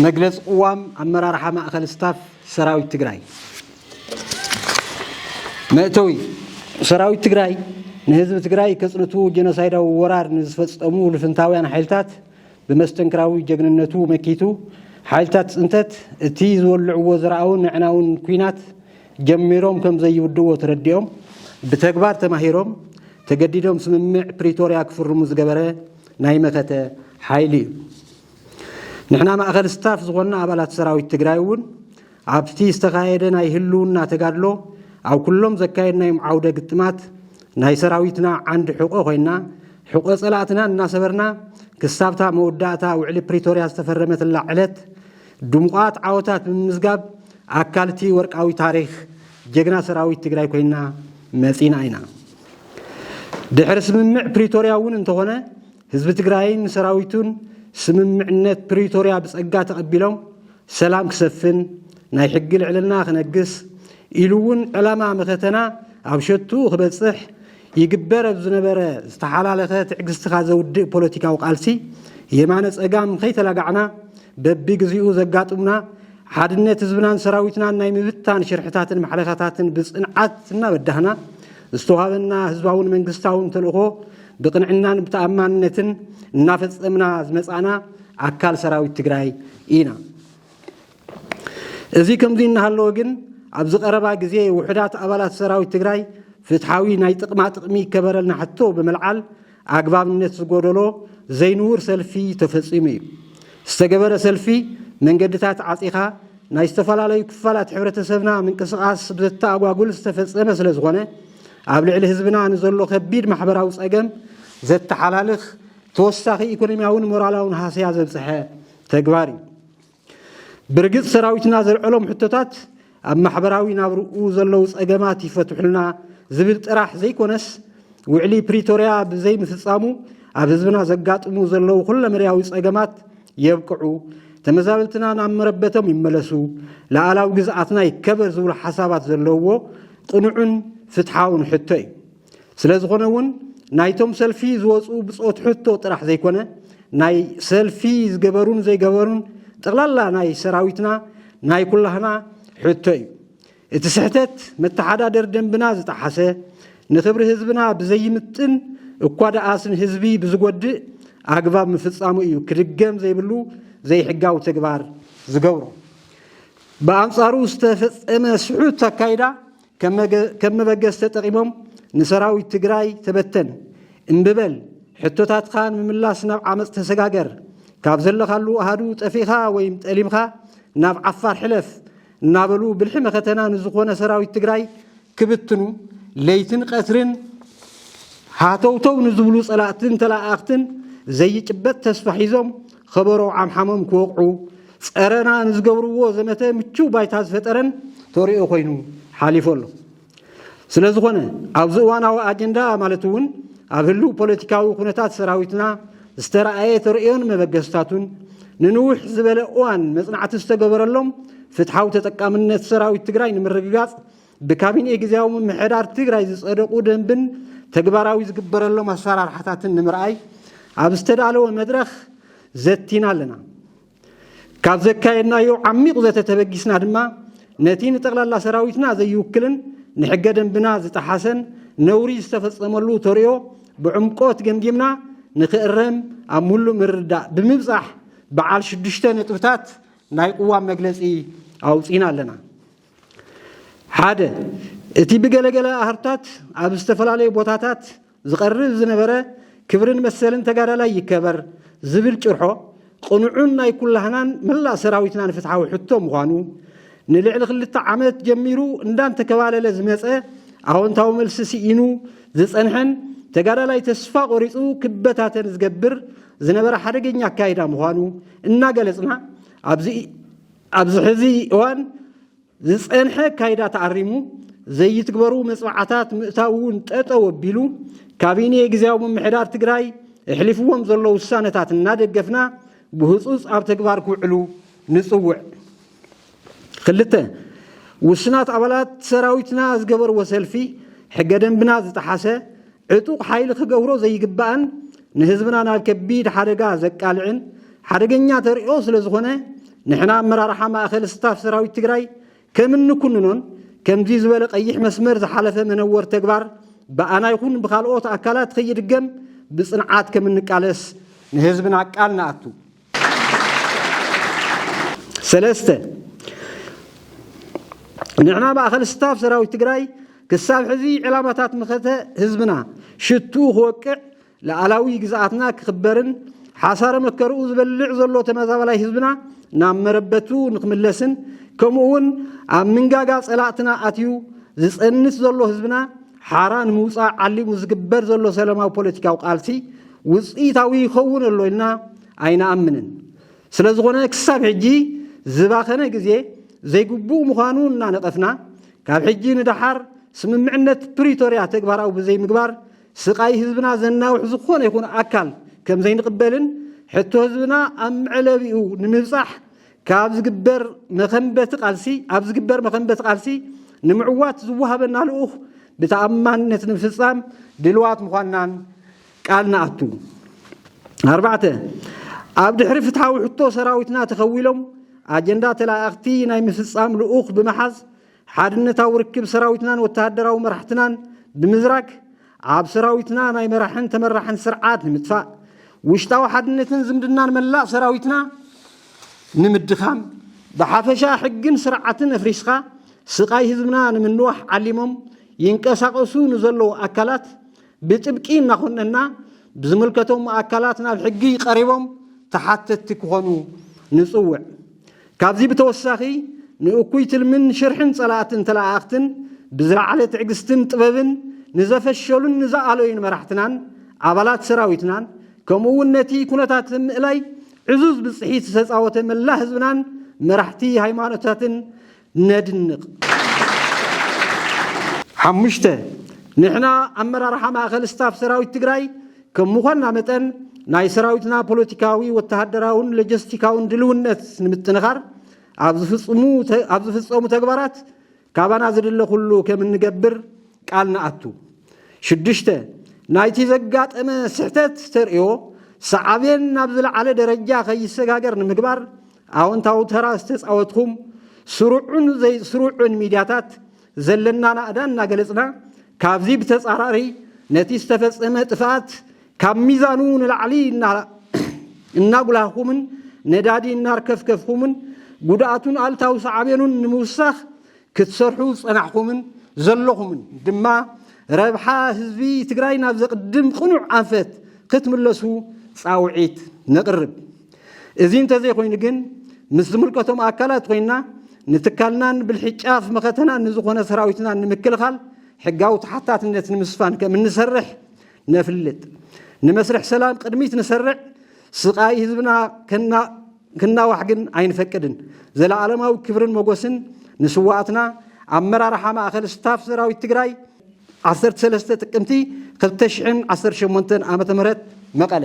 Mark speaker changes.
Speaker 1: መግለፂ ቅዋም ኣመራርሓ ማእኸል ስታፍ ሰራዊት ትግራይ መእተዊ ሰራዊት ትግራይ ንህዝቢ ትግራይ ከፅንቱ ጀኖሳይዳዊ ወራር ንዝፈፀሙ ልፍንታውያን ሓይልታት ብመስተንክራዊ ጀግንነቱ መኪቱ ሓይልታት ፅንተት እቲ ዝወልዕዎ ዘርኣውን ኣዕናውን ኩናት ጀሚሮም ከም ዘይውድእዎ ተረዲኦም ብተግባር ተማሂሮም ተገዲዶም ስምምዕ ፕሪቶርያ ክፍርሙ ዝገበረ ናይ መኸተ ሓይሊ እዩ። ንሕና ማእኸል ስታፍ ዝኾንና ኣባላት ሰራዊት ትግራይ እውን ኣብቲ ዝተኻየደ ናይ ህልውና ተጋድሎ ኣብ ኩሎም ዘካየድናዮም ዓውደ ግጥማት ናይ ሰራዊትና ዓንዲ ሕቆ ኮይና ሕቆ ፀላእትና እናሰበርና ክሳብታ መወዳእታ ውዕሊ ፕሪቶርያ ዝተፈረመትላ ዕለት ድሙቓት ዓወታት ብምምዝጋብ ኣካል'ቲ ወርቃዊ ታሪኽ ጀግና ሰራዊት ትግራይ ኮይና መፂና ኢና። ድሕሪ ስምምዕ ፕሪቶርያ እውን እንተኾነ ህዝቢ ትግራይን ንሰራዊቱን ስምምዕነት ፕሪቶርያ ብፀጋ ተቐቢሎም ሰላም ክሰፍን፣ ናይ ሕጊ ልዕልና ክነግስ ኢሉ እውን ዕላማ መኸተና ኣብ ሸትኡ ክበፅሕ ይግበር ኣብ ዝነበረ ዝተሓላለኸ ትዕግስትኻ ዘውድእ ፖለቲካዊ ቃልሲ የማነ ፀጋም ከይተላጋዕና በቢግዚኡ ዘጋጥሙና ሓድነት ህዝብናን ሰራዊትናን ናይ ምብታን ሽርሕታትን ማሕለኻታትን ብፅንዓት እናበዳህና ዝተዋሃበና ህዝባውን መንግስታውን ተልእኾ ብቕንዕናን ብተኣማንነትን እናፈፀምና ዝመፃእና ኣካል ሰራዊት ትግራይ ኢና። እዚ ከምዚ እናሃለወ ግን ኣብዚ ቀረባ ግዜ ውሑዳት ኣባላት ሰራዊት ትግራይ ፍትሓዊ ናይ ጥቕማ ጥቕሚ ይከበረልና ሕቶ ብምልዓል ኣግባብነት ዝጎደሎ ዘይንቡር ሰልፊ ተፈፂሙ እዩ። ዝተገበረ ሰልፊ መንገድታት ዓፂኻ ናይ ዝተፈላለዩ ክፋላት ሕብረተሰብና ምንቅስቓስ ብዘተኣጓጉል ዝተፈፀመ ስለዝኾነ ኣብ ልዕሊ ህዝብና ንዘሎ ከቢድ ማሕበራዊ ፀገም ዘተሓላልኽ ተወሳኺ ኢኮኖሚያውን ሞራላውን ሃስያ ዘብፀሐ ተግባር እዩ። ብርግጽ ሰራዊትና ዘልዐሎም ሕቶታት ኣብ ማሕበራዊ ናብርኡ ዘለዉ ጸገማት ይፈትሑልና ዝብል ጥራሕ ዘይኮነስ ውዕሊ ፕሪቶርያ ብዘይምፍጻሙ ኣብ ህዝብና ዘጋጥሙ ዘለዉ ኩለመዳያዊ ጸገማት የብቅዑ፣ ተመዛበልትና ናብ መረበቶም ይመለሱ፣ ልኣላዊ ግዝኣትና ይከበር ዝብሉ ሓሳባት ዘለዉዎ ቅኑዕን ፍትሓውን ሕቶ እዩ። ስለ ዝኾነ እውን ናይቶም ሰልፊ ዝወፁ ብፆት ሕቶ ጥራሕ ዘይኮነ ናይ ሰልፊ ዝገበሩን ዘይገበሩን ጠቕላላ ናይ ሰራዊትና ናይ ኩላህና ሕቶ እዩ። እቲ ስሕተት መተሓዳደር ደንብና ዝጠሓሰ ንክብሪ ህዝብና ብዘይምጥን እኳ ደኣስ ንህዝቢ ብዝጎድእ ኣግባብ ምፍፃሙ እዩ ክድገም ዘይብሉ ዘይሕጋዊ ተግባር ዝገብሮ። ብኣንፃሩ ዝተፈፀመ ስሑት ኣካይዳ ከም መበገሲ ተጠቒሞም ንሰራዊት ትግራይ ተበተን እምቢ በል፣ ሕቶታትካ ንምምላስ ናብ ዓመፅ ተሰጋገር፣ ካብ ዘለኻሉ ኣሃዱ ጠፊእኻ ወይም ጠሊምኻ ናብ ዓፋር ሕለፍ እናበሉ ብልሒ መኸተና ንዝኾነ ሰራዊት ትግራይ ክብትኑ ለይትን ቀትርን ሃተውተው ንዝብሉ ፀላእትን ተለኣኣኽትን ዘይጭበጥ ተስፋ ሒዞም ኸበሮ ዓምሓሞም ክወቕዑ ጸረና ንዝገብርዎ ዘመተ ምቹው ባይታ ዝፈጠረን ተርእዮ ኮይኑ ሓሊፉ ኣሎ። ስለዝኾነ ኣብዚ እዋናዊ ኣጀንዳ ማለት እውን ኣብ ህልው ፖለቲካዊ ኩነታት ሰራዊትና ዝተረኣየ ተርእዮን መበገስታቱን ንንውሕ ዝበለ እዋን መጽናዕቲ ዝተገበረሎም ፍትሓዊ ተጠቃምነት ሰራዊት ትግራይ ንምርግጋጽ ብካቢኔ ግዜያዊ ምምሕዳር ትግራይ ዝፀደቑ ደንብን ተግባራዊ ዝግበረሎም ኣሰራርሓታትን ንምርኣይ ኣብ ዝተዳለወ መድረኽ ዘቲና ኣለና። ካብ ዘካየድናዮ ዓሚቕ ዘተ ተበጊስና ድማ ነቲ ንጠቕላላ ሰራዊትና ዘይውክልን ንሕገ ደንብና ዝጠሓሰን ነውሪ ዝተፈፀመሉ ተርእዮ ብዕምቆት ገምጊምና ንክእረም ኣብ ሙሉእ ምርዳእ ብምብፃሕ በዓል ሽዱሽተ ነጥብታት ናይ ቅዋም መግለፂ ኣውፂና ኣለና። ሓደ፣ እቲ ብገለገለ ኣህርታት ኣብ ዝተፈላለዩ ቦታታት ዝቐርብ ዝነበረ ክብርን መሰልን ተጋዳላይ ይከበር ዝብል ጭርሖ ቅኑዕን ናይ ኩላህናን መላእ ሰራዊትናን ፍትሓዊ ሕቶ ምዃኑ ንልዕሊ ክልተ ዓመት ጀሚሩ እንዳንተከባለለ ዝመፀ ኣወንታዊ መልሲ ስኢኑ ዝፀንሐን ተጋዳላይ ተስፋ ቆሪፁ ክበታተን ዝገብር ዝነበረ ሓደገኛ ኣካይዳ ምዃኑ እናገለፅና ኣብዚ ኣብዚ ሕዚ እዋን ዝፀንሐ ኣካይዳ ተኣሪሙ ዘይትግበሩ መፅብዓታት ምእታው እውን ጠጠው ኣቢሉ ካቢኔ ግዝያዊ ምምሕዳር ትግራይ እሕሊፍዎም ዘሎ ውሳነታት እናደገፍና ብህፁፅ ኣብ ተግባር ክውዕሉ ንፅውዕ። ክልተ ውስናት ኣባላት ሰራዊትና ዝገበርዎ ሰልፊ ሕገ ደንብና ዝጠሓሰ ዕጡቕ ሓይሊ ክገብሮ ዘይግባእን ንህዝብና ናብ ከቢድ ሓደጋ ዘቃልዕን ሓደገኛ ተርእዮ ስለዝኾነ ንሕና ኣመራርሓ ማእኸል ስታፍ ሰራዊት ትግራይ ከም እንኩንኖን ከምዚ ዝበለ ቀይሕ መስመር ዝሓለፈ መነወር ተግባር ብኣና ይኹን ብካልኦት ኣካላት ኸይድገም ብፅንዓት ከም እንቃለስ ንህዝብና ቃል ንኣቱ። ሰለስተ፣ ንሕና ማእኸል ስታፍ ሰራዊት ትግራይ ክሳብ ሕዚ ዕላማታት መኸተ ህዝብና ሽትኡ ክወቅዕ፣ ልኣላዊ ግዝኣትና ክኽበርን ሓሳረ መከርኡ ዝበልዕ ዘሎ ተመዛባላይ ህዝብና ናብ መረበቱ ንክምለስን ከምኡ እውን ኣብ ምንጋጋ ፀላእትና ኣትዩ ዝፀንት ዘሎ ህዝብና ሓራ ንምውፃእ ዓሊሙ ዝግበር ዘሎ ሰላማዊ ፖለቲካዊ ቃልሲ ውፅኢታዊ ይኸውን ኣሎ ኢልና ኣይንኣምንን። ስለዝኾነ ክሳብ ሕጂ ዝባኸነ ግዜ ዘይግቡእ ምዃኑ እናነቐፍና ካብ ሕጂ ንደሓር ስምምዕነት ፕሪቶርያ ተግባራዊ ብዘይምግባር ስቓይ ህዝብና ዘናውሕ ዝኾነ ይኹን ኣካል ከምዘይንቕበልን ሕቶ ህዝብና ኣብ መዕለቢኡ ንምብፃሕ ካብ ዝግበር መኸንበቲ ቃልሲ ኣብ ዝግበር መኸንበቲ ቃልሲ ንምዕዋት ዝወሃበና ልኡኽ ብተኣማንነት ንምፍፃም ድልዋት ምዃንናን ቃል ንኣቱ። ኣርባዕተ ኣብ ድሕሪ ፍትሓዊ ሕቶ ሰራዊትና ተኸዊሎም ኣጀንዳ ተለኣኣኽቲ ናይ ምፍፃም ልኡኽ ብምሓዝ ሓድነታዊ ርክብ ሰራዊትናን ወተሃደራዊ መራሕትናን ብምዝራግ ኣብ ሰራዊትና ናይ መራሕን ተመራሕን ስርዓት ንምጥፋእ ውሽጣዊ ሓድነትን ዝምድናን መላእ ሰራዊትና ንምድኻም ብሓፈሻ ሕግን ስርዓትን ኣፍሪስካ ስቃይ ህዝብና ንምንዋሕ ዓሊሞም ይንቀሳቀሱ ንዘለዉ ኣካላት ብጥብቂ እናኾነና ብዝምልከቶም ኣካላት ናብ ሕጊ ቀሪቦም ተሓተትቲ ክኾኑ ንፅውዕ። ካብዚ ብተወሳኺ ንእኩይ ትልምን ሽርሕን ፀላእትን ተለኣኣኽትን ብዝለዓለ ትዕግስትን ጥበብን ንዘፈሸሉን ንዝኣለዩን መራሕትናን ኣባላት ሰራዊትናን ከምኡ እውን ነቲ ኩነታት ምእላይ ዕዙዝ ብፅሒት ዝተፃወተ መላእ ህዝብናን መራሕቲ ሃይማኖታትን ነድንቕ። ሓሙሽተ፣ ንሕና ኣመራርሓ ማእኸል ስታፍ ሰራዊት ትግራይ ከም ምዃንና መጠን ናይ ሰራዊትና ፖለቲካዊ፣ ወተሃደራውን ሎጀስቲካውን ድልውነት ንምጥንኻር ኣብ ዝፍፅሙ ኣብ ዝፍፀሙ ተግባራት ካባና ዝድለ ኩሉ ከም እንገብር ቃል ንኣቱ። ሽዱሽተ፣ ናይቲ ዘጋጠመ ስሕተት ተርእዮ ሳዕቤን ናብ ዝለዓለ ደረጃ ከይሰጋገር ንምግባር ኣወንታዊ ተራ ዝተፃወትኹም ስሩዕን ዘይስሩዕን ሚድያታት ዘለና ናእዳ እናገለፅና ካብዚ ብተፃራሪ ነቲ ዝተፈፀመ ጥፍኣት ካብ ሚዛኑ ንላዕሊ እናጉላህኹምን ነዳዲ እናርከፍከፍኹምን ጉድኣቱን ኣልታዊ ሳዕቤኑን ንምውሳኽ ክትሰርሑ ዝፀናሕኹምን ዘለኹምን ድማ ረብሓ ህዝቢ ትግራይ ናብ ዘቕድም ቅኑዕ ኣንፈት ክትምለሱ ፃውዒት ነቕርብ። እዚ እንተዘይኮይኑ ግን ምስ ዝምልከቶም ኣካላት ኮይና ንትካልናን ብልሒ ጫፍ መኸተናን ንዝኾነ ሰራዊትናን ንምክልኻል ሕጋዊ ተሓታትነት ንምስፋን ከም እንሰርሕ ነፍልጥ። ንመስርሕ ሰላም ቅድሚት ንሰርዕ፣ ስቓይ ህዝብና ክናዋሕ ግን ኣይንፈቅድን። ዘለኣለማዊ ክብርን መጎስን ንስዋኣትና! ኣመራርሓ ማእኸል ስታፍ ሰራዊት ትግራይ ዓሰርተ ሰለስተ ጥቅምቲ ክልተ ሽሕን ዓሰርተ ሸሞንተን ዓመተ ምህረት መቐለ